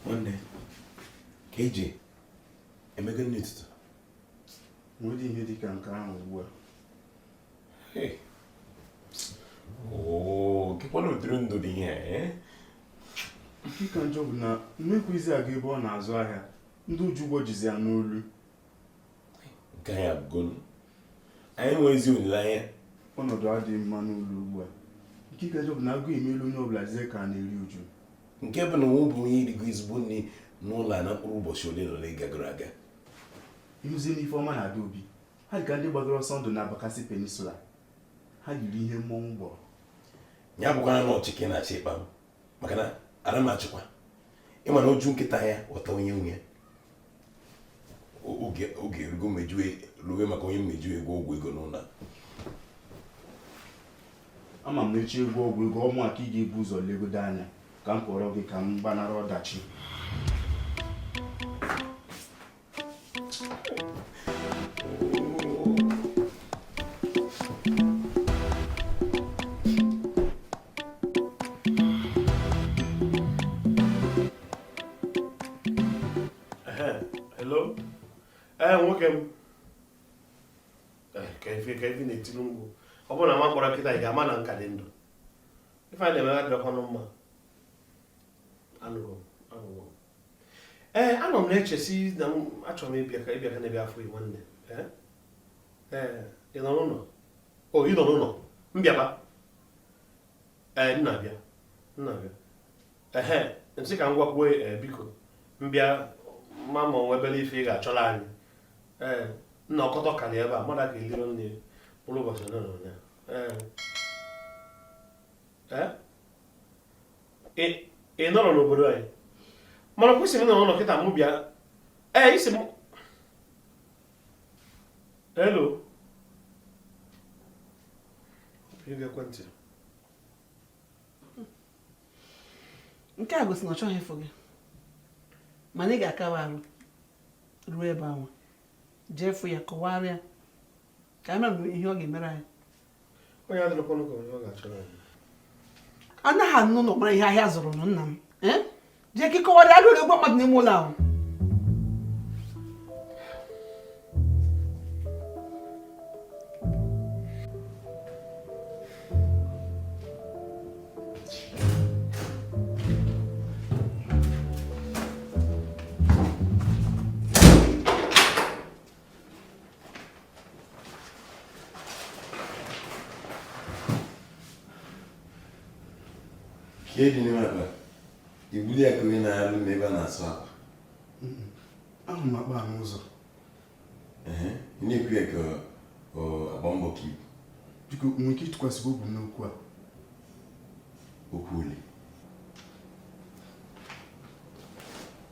nwanne ka e ji eme gịnị ụtụtụ nwerọdị ihe dị ka nke ahụ ugbu a kekwanụ ụdịrị ndụ dị ihe a nke ka njọ bụ na mekwuzia gaa ebe ọ na-azụ ahịa ndị o ji ụgwọ jizi ya n'olu ike anyị agwụgonu anyị enwezi olileanya ọnọdụ adịghị mma n'ụlọ ugbu a nke ka njọ bụ na agụụ emelu onye ọbụla dịzie ka a na-eru uju nke bụ na o nwebeghị onye rigo ezigbo nri n'ụlọ a na mkpụrụ ụbọchị ole na ole gagoro aga ịhụzi n'ife ọma na-ada obi ha dịka ndị gbatara ọsọ ndụ na Bakassi Peninsula ha yiri ihe mmọnwụ gbọrọ ya bụkwara na ọchị ka ị na-achị ịkpa m aka n'ara m achịkwa ị ma na o ju nkịta anya ọ taa onye nwe ya oge erugo mejue ruwe maka onye mmeju ego ọgwụ ego n'ụlọ ama m eji agwọ ọgwụ ego ọ mụ ka ị ga-ebu ụzọ legodo anya ka m kpọrọ gị ka m gbanara ọdachi Hello? Ee, nwoke m. Ke ife ke ife i na-etili mkpu? Ọ bụrụ na m akpọrọ kịta ị ga-ama na m ka dị ndụ. Ife a ị na-emegha adịrọkwanụ mma. Anụgo, anụgo. ee anọ m na-eche sị na m achọrọ m ịbịa ka ịbịa ka na-ebe afọ igbo nne ee ee ị nọ n'ụlọ o ị nọ n'ụlọ m bịaba ee m na-abịa m na-abịa ehe m sị ka m gwakwuo ee biko m bịa ma ma o nwe obere ife ị ga-achọrọ anyị ee m na ọkọtọ ka na ebe a mmadụ aka elirọ nni mkpụrụ ụbọchị ole na ole ee ee ị nọrọ n'obodo anyị mana o kwu sị m na ọ nọ ụlọ kịta mụ bịa ee isi m elo ekwentị nke a gosi na ọ chọghị ịfụ gị mana ị ga-akawa arụ ruo ebe ahụ jee fụ ya kọwara ya ka a mara ihe ọ ga-emere anyị onye adịrịkwanụ ka onye ọ ga-achọrọ anyị anaghị anọ n'ụlọ mara ihe ahịa zụrụ nụ nna m Eh? jee ka ị kọwara ya rụrụ ego mmadụ n'ime ụlọ ahụ ka eji n'ime akpa ibuli akụ gị na-alụ m ebe a na-asụ akwa ahụ m akpa n'ụzọ ị na-ekwu ya ka agba mbọ ka ibu biko nwere ike ịtụkwasị obi n'okwu a okwu ole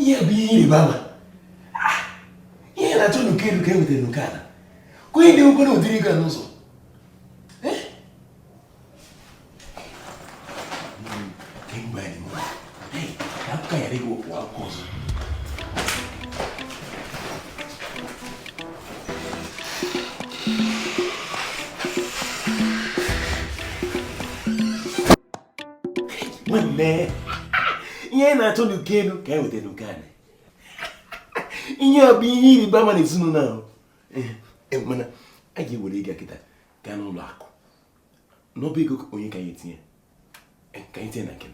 ihe bụ ihe ịrịba ama ah, ihe a na-achọ n'uko elu ka e nwetara n'uko ala ka onye dị ụgwọ na ụdịrị ego n'ụzọ nwanne ihe a na-achọ n'uko elu ka e weta n'uko ala ihe a bụ ihe ịrịba ama na ezinụlọ ahụ eh, eh, mana a ga-ewere ego a kịta gaa n'ụlọ akụ n'ọba ego onye ka anyị etinye e, ka anyị tinye na nke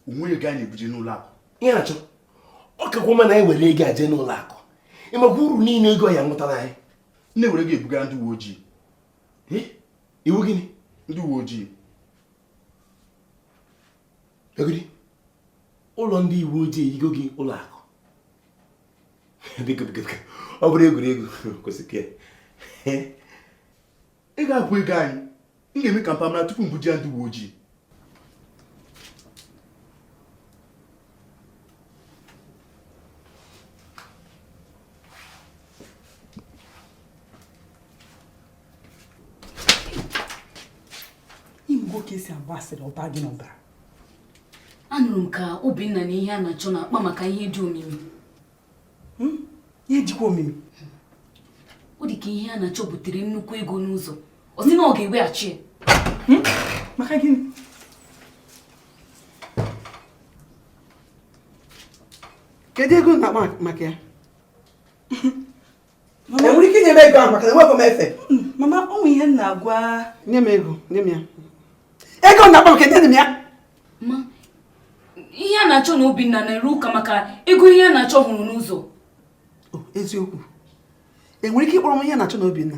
onwe ego anyị ebuje n'ụlọ akụ iheanachọ ọ kakwa mma na anyị were ego a jee n'ụlọ akụ ị makwa uru niile ego ya-amụtara anyị nne were ego a bugara ndị uwe ojii iwu gịnị ndị uwe ojii ego dị ụlọ ndị uwe ojii eyigo gị ụlọ akụ biko biko biko ọ bụrụ egwuregwu kwụsị ka ego a bụ ego anyị m ga-eme ka mpa mara tupu m buje ya ndị uwe ojii ị mụgo ka e si agba asịrị ọ ba gị n'ọbara anụrụ m ka obinna na iheanachọ na-akpa maka ihe dị omimi hmm? ya ejikwa omimi ọ dị ka iheanachọ butere nnukwu ego n'ụzọ ọ sị na ọ ga-eweghachi ya hmm? maka gịnị kedu ego na-akpa maka ya i nwere ike inye m ego ahụ maka na enwekwa m efe mama ụmụ ihe m na-agwa nye m ego nye m ya ego na-akpa m aka nye m ya ma iheanachọ na obinna na-arụ ụka maka ego iheanachọ hụrụ n'ụzọ eziokwu i nwere ike ịkpọrọ m iheanachọ na obinna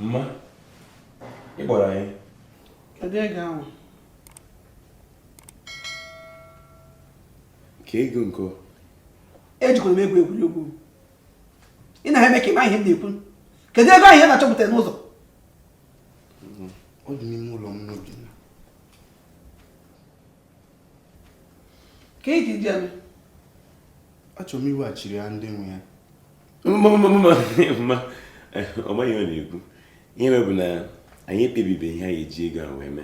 mma ị kpọrọ anyị kedu ego ahụ kee ego nke ejikwala m egwu egwuregwu ị na-eme ka ị ma ihe m na-ekwu kedu ego iheanachọ bute n'ụzọ ọ dị n'ime ụlọ mụ na obinna kee ihe ị ga-eji ya eme achọrọ m iweghachiri ya ndị nwe ya mma ihe ọ na-ekwu ihe mere bụ na anyị ekpebibe ihe anyị eji ego ahụ eme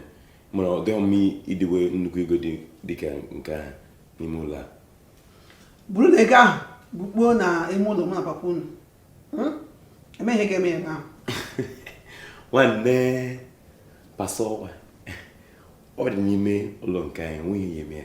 mana ọ dịghị mma idowe nnukwu ego dị ka nke a n'ime ụlọ ọ bụrụ na ego ahụ bukpuo na ime ụlọ mụ na papa unu hmm? emeghị ga-eme ya ahụ nwanne pasọwa ọ dị n'ime ụlọ nke anyị enweghị ya eme ya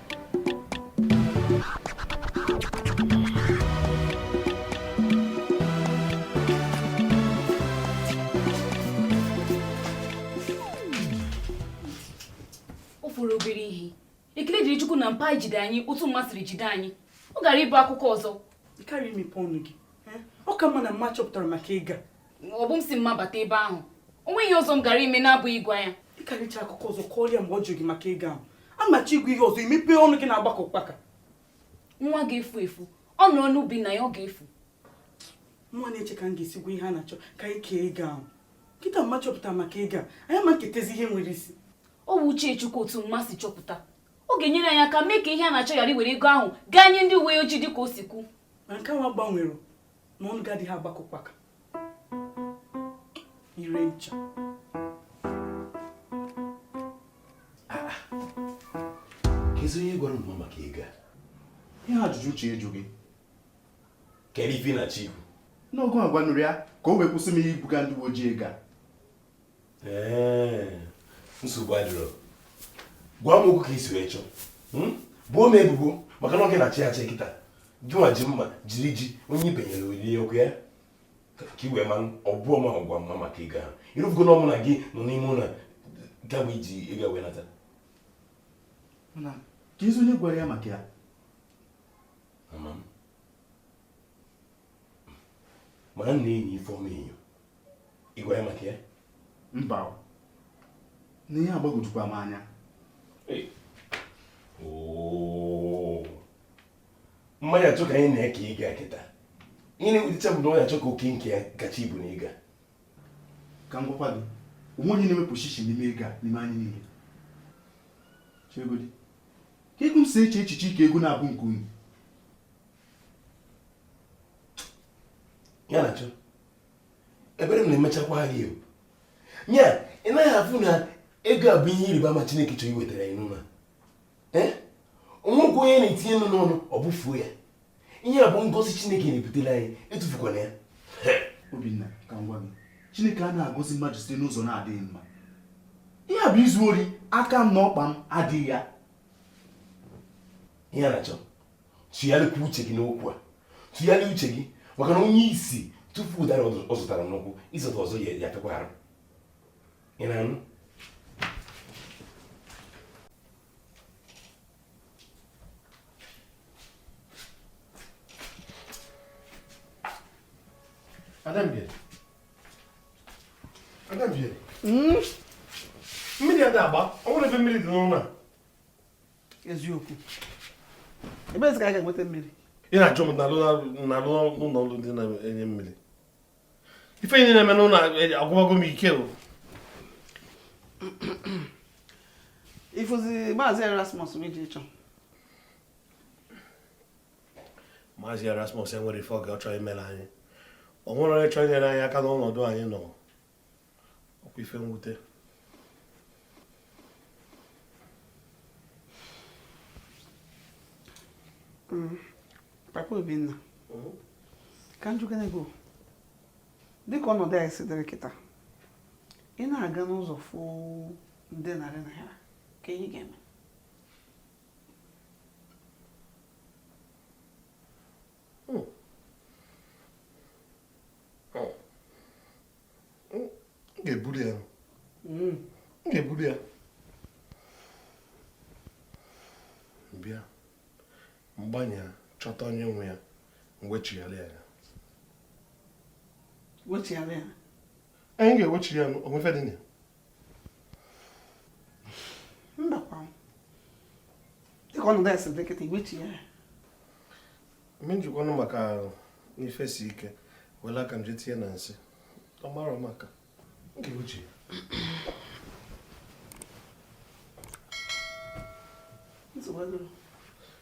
ọ fọrọ obere ihe ekele dịrị chukwu na mpa ejide anyị otu mma siri jide anyị ọ gara ịbụ akụkọ ọzọ ọ ka mma na mma chọpụtara maka ego a ọ bụ m si mma bata ebe ahụ o nweghị ihe ọzọ m gara ime na-abụghị ịgwa ya ị kara ịchọ akụkọ ọzọ kọọrọ ya mgbe ọ jụrụ gị maka ego ahụ a machi ịgwa ya ihe ọzọ i mepee ọnụ gị na-agba ka ụkpaka nwa ga-efu efu ọ nọrọ n'ubi nna ya ọ ga-efu mụwa na-eche ka m ga-esi gwa iheanachọ ka anyị kee ego ahụ kịta mma chọpụtara maka ego a anyị ma nketezi ihe nwere isi ọ bụ uche chukwu otu mma si chọpụta ọ ga-enyere anyị aka mee ka iheanachọ ghara iwere ego ahụ gaa nye ndị uwe ojii dị ka o si kwu ma nke nwa gbanwere na ọnụ gị adịghị agba ka ụkpaka ire ncha kezi onye gwara mma maka ego a ihe ajụjụ uche eju gị kere ife ị na-achị na ọ gị gwanụrụ ya ka o wee kwụsị m ibuga ndị uwe ojii ego a nsogbu adịrọ gwa m okwu ka i si wee chọọ hmm? bọọ m ebubo maka na ọ gị na-achị achị kịta gịnwa ji mma jiri ji onye i benyere olili okwu ya ka i wee mara ọ bụrọ m gwara mma maka ego ahụ ị rọfugo na ọ mụ na gị nọ n'ime ụlọ ka e ji ego a wee nata kezi onye gwara ya maka ya amarọ m ana m enyo ifeọma enyo ị gwara ya maka ya mba na ihe agbagwojukwa m anya ma ya chọ ka anyị na ya kee ego a kịta ihe na-ewutecha bụ na ọ ya-achọ ka oke nke ya kacha ibu n'ego a ka m gwakwa gị o nwe onye na-ewepụ shishi n'ime ego a n'ime anyị niile chegodi ka ego m si eche echiche ike ego na-abụ nke anyị ya na-achọ ebere m na-emechakwa gị ya ị naghị afụ na ego a bụ ihe ịrịba ama Chineke chọrọ iwetara anyị n'ụlọ o nwekwa onye na-etinye nnu n'ọnụ ọ bụfuo ya ihe a bụ ngọzi Chineke na-ebutere anyị etufukwana ya Obinna ka m gwa gị Chineke ana agọzi mmadụ site n'ụzọ na-adịghị mma ihe a bụ izu ori aka m na ọkpa m adịghị ya ihe a na-achọ tụgharịkwa uche gị n'okwu a tụgharịa uche gị maka na onye isi tufuo ụdara ọ zọtara n'ụkwụ ịzọta ọzọ ya-afịakwa arụ ị na-anụ Adambiye. Adambiye. Hmm? Mmiri a na-agba, o nwere ebe mmiri dị n'ụlọ a. eziokwu ebezi ka a ga-enweta mmiri ị na-ajụ m na-alụ n'ụlọ ọrụ ndị na-enye mmiri ife niile na-eme n'ụlọ a agwụbago m ike o ịfụzi maazị erasmus m eje chọ maazị erasmus enwerọ ife oge ọ chọrọ imere anyị o nwerọ onye chọrọ inyere anyị aka n'ọnọdụ anyị nọ ọ kwa ife mwute mm. papa obinna mm-hmm. ka m jụkene gị dịka ọnọdụ anyị si dịrị kịta ị na-aga n'ụzọ fụ nde narị naira kee ihe ị ga-eme ga-eburu ya m ga-eburu ya bịa mgbe anyị ya-achọta onye nwe ya m wechighara ya anyị ga-ewechi ya o nwe ife dị na ya mbakwa dịka ọnọdụ ya si dị kịta ị ga-ewechi ya mechikwa ọnụ maka na ife si ike wela aka m je tinye na nsị ọ mara maka nke uche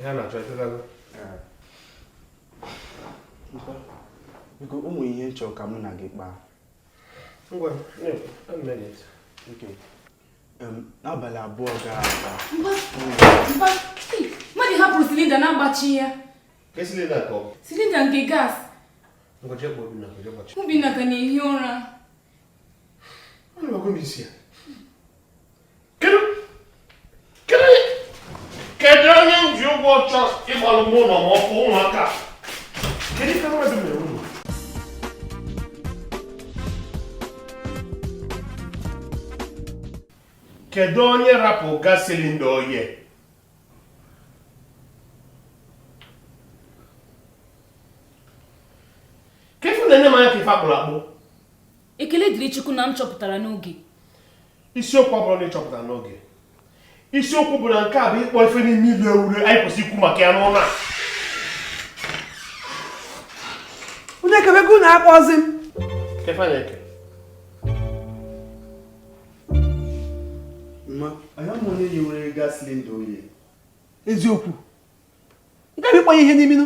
iheanachọ etetago biko o nwere ihe m chọrọ ka mụ na gị kpaa ngwa n'abalị abụọ gara aga mmadụ hapụrụ silinda na-agbachighị ya silinda nke gas obinna ka na-ehi ụra kedu onye m ji ụgwọ chọ ịgbalụ m ụlọ ma ọ bụ ụmụaka kedu ife mmadụ mere ụlọ kedu onye rapụ gas silinda oye ke ife unu na-ene m anya ka ife akpụrụ akpụ ekele dịrị chukwu na m chọpụtara n'oge isiokwu abụrọ na ị chọpụtara n'oge isiokwu bụ na nke a bụ ịkpọ ife n'ime ilu ewure anyị kwesịrị ikwu maka ya n'ụlọ a onye kebego na akpọzi m ke ife ị na-ekiri m anya m onye yiwere gas silinda oye eziokwu nke bụ ịkpọ ya ihe n'iminu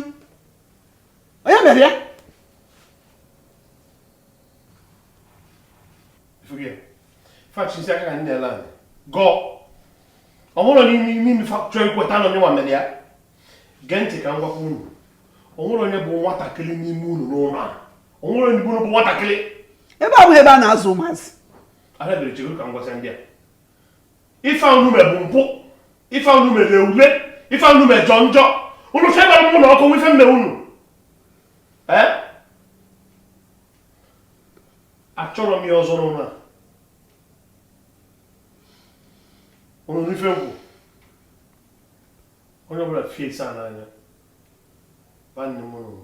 onye mere ya fachisi aka ka ndị ala anyị gọọ ọ bụrụ na ime ime chọọ ikweta na ọ ya nwa mere ya gee ntị ka m gwakwa unu o nwere onye bụ nwatakịrị n'ime unu n'ụlọ a o nwere onye bụ nwatakịrị ebe a ọ bụ ebe a na-azụ ụmụazị adabere chego ka m gwasị ndị a ife unu mere bụ mpụ ife unu mere lere ule ife unu mere jọ njọ unu febara m ụlọ ọkụ ife m me unu ee achọrọ m ya ọzọ n'ụlọ a unu nụ ife m kwu onye ọbụla fiesie aka n'anya nwanne m nụrụ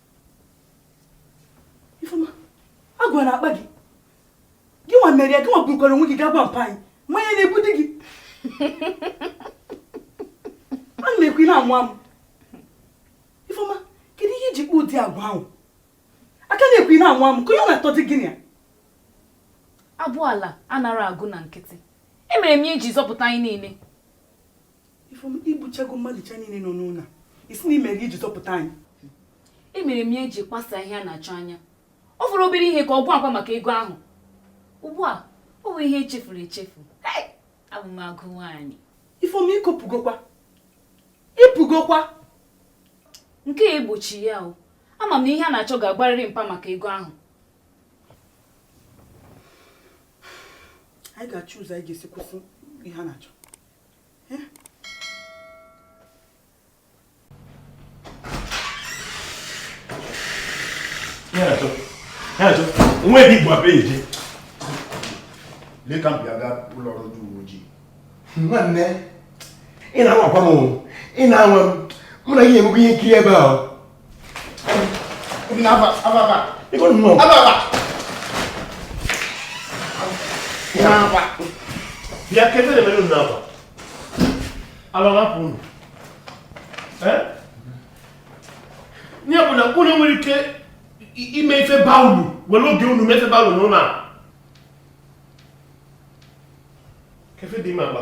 Ifeoma, agwụ na-akpa gị gị nwa mere ya gị nwa burukwara onwe gị gaa gwa mpa anyị mmanya na-egbudi gị a na-ekwu ị na-amụ amụ Ifeoma, kedu ihe i ji kpa ụdị agwa ahụ a ka na-ekwu ị na-amụ amụ ka onye ọ na-atọ dị gịnị ya abụ ala anara agụ na nkịtị emere m ya iji zọpụta anyị niile ifom igbuchago mmadụ cha niile nọ n'ụlọ isi na imere iji zọpụta anyị emere m ya iji kpasa Iheanachọ anya ọ fọrọ obere ihe ka ọ gwa mpa maka ego ahụ ugbu a ọ bụ ihe echefuru echefu abụ m agụ nwaanyị ifom ikopụgokwa ịpụgokwa nke a egbochi ya o ama m na Iheanachọ ga-agwarịrị mpa maka ego ahụ anyị ga-achọ ụzọ anyị ga-esi kwụsị Iheanachọ nwa ebe igbo abịa eje lee ka m bịa gaa ụlọ ọrụ ndị uwe ojii nwanne ị na-anwakwa m ị na-anwa m mụ na gị na-emekwa ihe nkiri ebe a bịa ke ife na-eme unu n'ebe a alọghapụ unu nye bụ na unu nwere ike ime ife baa uru were oge unu mee ife baa uru n'ụlọ a ke ife dị ime agba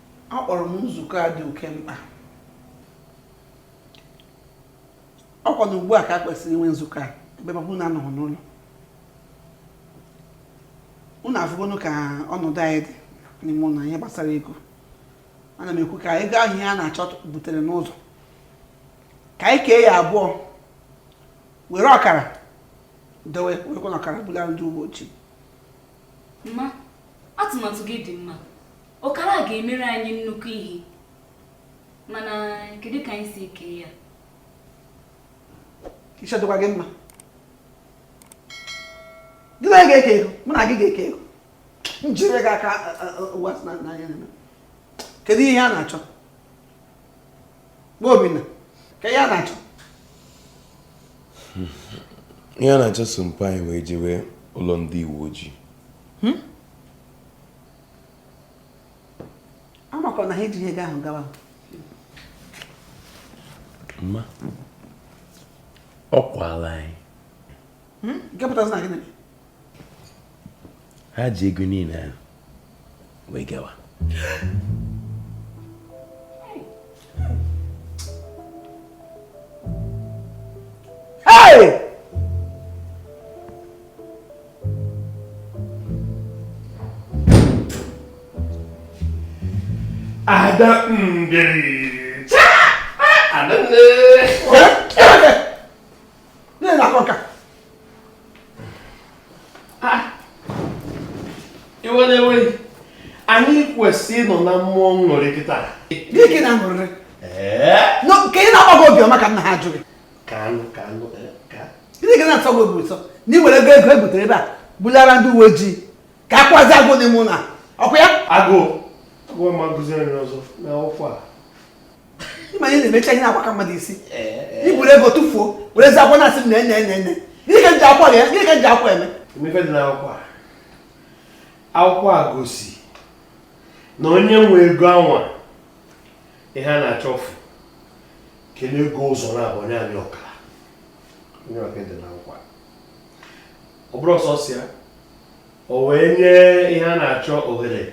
akpọrọ m nzukọ a dị oke mkpa ọkwa na ugbu a ka a kwesịrị inwe nzukọ a ebe mpa unu anọghị n'ụlọ unu afụgonu ka ọnọdụ anyị dị n'ime ụlọ ihe gbasara ego ana m ekwu ka ego ahụ Iheanachọ butere n'ụzọ ka anyị kee ya abụọ were ọkara dowe wekwanụ ọkara bulara ndị uwe ojii mma atụmatụ gị dị mma ọkara ga-emere anyị nnukwu ihe mana kedu ka anyị si eke ya isi ọ dịkwa gị mma gị na onye ga-eke ego mụ na gị ga-eke ego njire gị aka ụwa n'anya kedu Iheanachọ Obinna, kee Iheanachọ Iheanachọ so mpa anyị wee jewe ụlọ ndị uwe ojii hmm? amakwa m na ha ejighị ego ahụ gawa mma ọ kwaala anyị Hmm? ha ji ego niile ahụ wee gawa Hey! ada ngeri. Ada ngeri. Nne na akọ nka. Ah. I were iwe anyị kwesịrị ịnọ na mmụọ aṅụrị kịta. Gị gị na-aṅụrị. Ka ị na-agbago obiọma ka nna ha jụ gị. Ka anụ ka anụ eh, ka. Gịnị ka na-atọ gị obi ụtọ na ị were ego ego e butere ebe a bulara ndị uwe ojii ka a kwazi agụ n'ime ụlọ ọkụ ya? Agụ. Agụ ma gụziere ọzọ na ọkwa a. ị ma ihe na-emecha ihe na-agbaka mmadụ isi i buru ego tụfuo werezi akwụkwọ na-asị nne nne nne gịnị ka e ji akwụkwọ a gịnị ka e ji akwụkwọ a eme ị ma ife dị n'akwụkwọ a akwụkwọ a gosi na onye nwe ego anwa Iheanachọ fụ kelu ego ụzọ abụọ nye anyị ọkara ọ ya ka e dere n'akwụkwọ a ọ bụrọ sọsọ ya o wee nye Iheanachọ ohere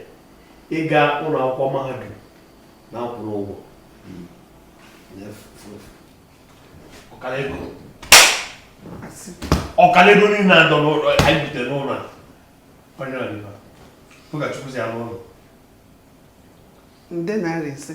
ịga ụlọ akwụkwọ mahadum na-akwụrụ ụgwọ ọkara ego niile a dọ n'ụlọ anyị bute n'ụlọ onye ọdịba pụgachukwuzi ya n'ụlọ nde naira ise